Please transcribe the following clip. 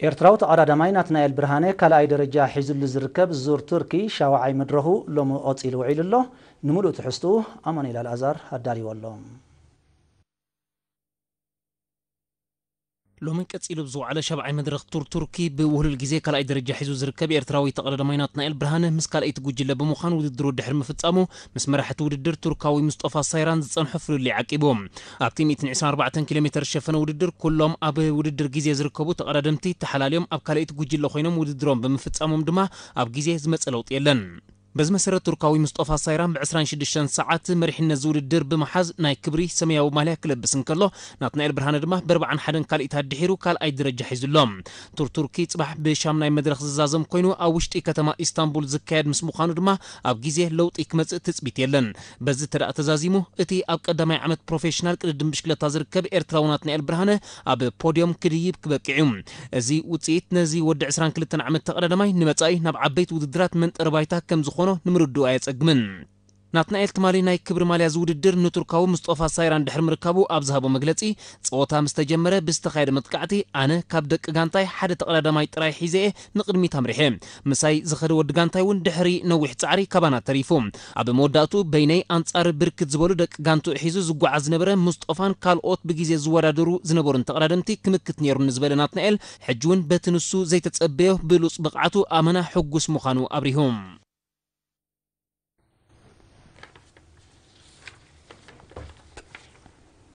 ኤርትራዊ ተቐዳዳማይ ናትናኤል ብርሃነ ካልኣይ ደረጃ ሒዙሉ ዝርከብ ዙር ቱርኪ ሻውዓይ መድረኹ ሎሚ ቐጺሉ ውዒሉ ኣሎ። ንምሉእ ትሕዝትኡ ኣማኑኤል ኣልኣዛር ኣዳልይዎ ኣሎ። ሎሚ ቀጺሉ ኣብ ዝወዓለ ሻብዓይ መድረኽ ቱር ቱርኪ ብውህሉል ግዜ ካልኣይ ደረጃ ሒዙ ዝርከብ ኤርትራዊ ተቐዳዳማይ ናትናኤል ብርሃነ ምስ ካልኣይቲ ጉጅለ ብምዃን ውድድሩ ድሕሪ ምፍጻሙ ምስ መራሕ'ቲ ውድድር ቱርካዊ ሙስጦፋ ሳይራን ዝጸንሖ ፍልልይ ዓቂቡ ኣብቲ ሚእትን ዕስራን ኣርባዕተን ኪሎሜተር ዝሸፈነ ውድድር ኩሎም ኣብ ውድድር ግዜ ዝርከቡ ተቐዳደምቲ ተሓላልዮም ኣብ ካልኣይቲ ጉጅለ ኮይኖም ውድድሮም ብምፍጻሞም ድማ ኣብ ግዜ ዝመጸ ለውጢ የለን። በዚ መሰረት ቱርካዊ ምስጦፋ ሳይራም ብ ዕስራን ሽዱሽተን ሰዓት መሪሕነት'ዚ ውድድር ብምሓዝ ናይ ክብሪ ሰመያዊ ማልያ ክለብስ እንከሎ ናትናኤል ብርሃነ ድማ ብ ኣርባዓን ሓደን ካልኢት ኣድሒሩ ካልኣይ ደረጃ ሒዙ ኣሎ። ቱር ቱርኪ ጽባሕ ብ ሻምናይ መድረኽ ዝዛዘም ኮይኑ ኣብ ውሽጢ ከተማ ኢስታንቡል ዝካየድ ምስ ምዃኑ ድማ ኣብ ግዜ ለውጢ ክመጽእ ትጽቢት የለን። በዚ ተደኣ ተዛዚሙ እቲ ኣብ ቀዳማይ ዓመት ፕሮፌሽናል ቅድድም ብሽክለታ ዝርከብ ኤርትራዊ ናትናኤል ብርሃነ ኣብ ፖድዮም ክድይብ ክበቅዕ'ዩ። እዚ ውጽኢት ነዚ ወዲ ዕስራን ክልተን ዓመት ተቐዳዳማይ ንመጻኢ ናብ ዓበይቲ ውድድራት መንጠሪ ባይታ ከም ዝኾኖ ንምርድኡ ኣየጸግምን። ናትናኤል ትማሊ ናይ ክብሪ ማልያ'ዚ ውድድር ንቱርካዊ ሙስጦፋ ሳይራን ድሕሪ ምርካቡ ኣብ ዝሃቦ መግለጺ ጸወታ ምስ ተጀመረ ብዝተኻየደ መጥቃዕቲ ኣነ ካብ ደቂ ጋንታይ ሓደ ተቐዳዳማይ ጥራይ ሒዘ'የ ንቕድሚት ኣምሪሐ። ምሳይ ዝኸደ ወዲ ጋንታይ'ውን ድሕሪ ነዊሕ ጻዕሪ ካባና ተሪፉ። ኣብ መወዳእትኡ በይነይ ኣንጻር ብርክት ዝበሉ ደቂ ጋንትኡ ሒዙ ዝጓዓዝ ዝነበረ ሙስጦፋን ካልኦት ብግዜ ዝወዳደሩ ዝነበሩን ተቐዳደምቲ ክምክት ነይሩኒ ዝበለ ናትናኤል፣ ሕጂ'ውን በቲ ንሱ ዘይተጸበዮ ብሉጽ ብቕዓቱ ኣመና ሕጉስ ምዃኑ ኣብሪሁ።